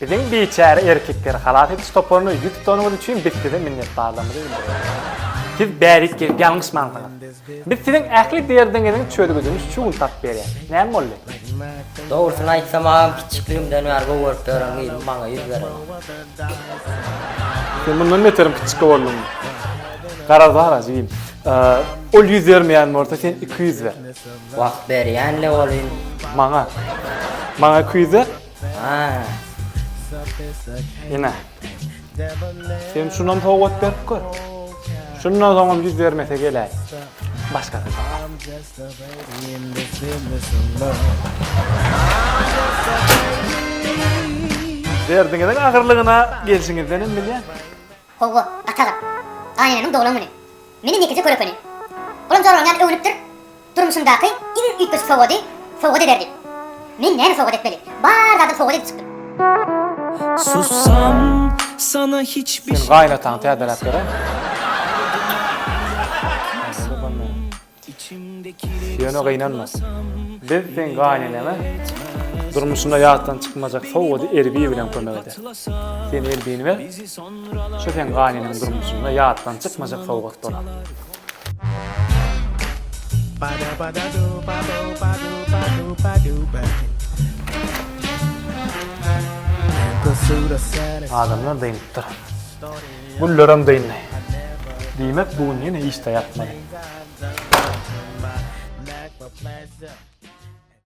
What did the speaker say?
Biziň biçäre erkekleri halas ediş toparyna ýüz tutanyňyz üçin biz size minnetdarlygymyzy bildiriýäris. Siz bärik gelip ýalňyşmansyňyz. Biz siziň ähli derdiňiziň çözgüdini şu gün tapyp berýäris. Näme boldy? Dogrusyny aýtsam, agam kiçikligimden bäri gowy görüp ýören gyzym maňa ýüz berenok. Sen mundan beterim kiçik bolduň. Garaz bara, jigim. Ol ýüz bermeýän bolsa sen iki ýüz ber. Wagt berýänle bolýn. Maňa. Maňa iki ýüz ber. Ha. Ine. Sen şunam sowgat berip gör. Şundan soňam ýüz bermese geläý. Başga bir Derdiňiziň agyrlygyna gelşiňizdenem bilýän. Howwa, Ataga. Gaýynenemiň doglan güni. Meni nekije kör ekeni. Olam jorlan ýaly öwünipdir. Durmuşymdaky iň üýtgeşik sowgady sowgat ederdi. Men näme sowgat etmeli? Bar zadam sowgat edip çykdym. Sen gaýynataňy täzeläp ber-aý. Ýöne gynanma. Biz seň gaýneneňe durmuşynda ýatdan çykmajak sowgady Erbi bilen kömek ederis. Sen Erbini ber, şu seň gaýneneň durmuşynda ýatdan çykmajak sowgat bolar. Adamlar dynypdyr. Güllerem dyndy. Diýmek, bu gün ýene işde ýatmaly.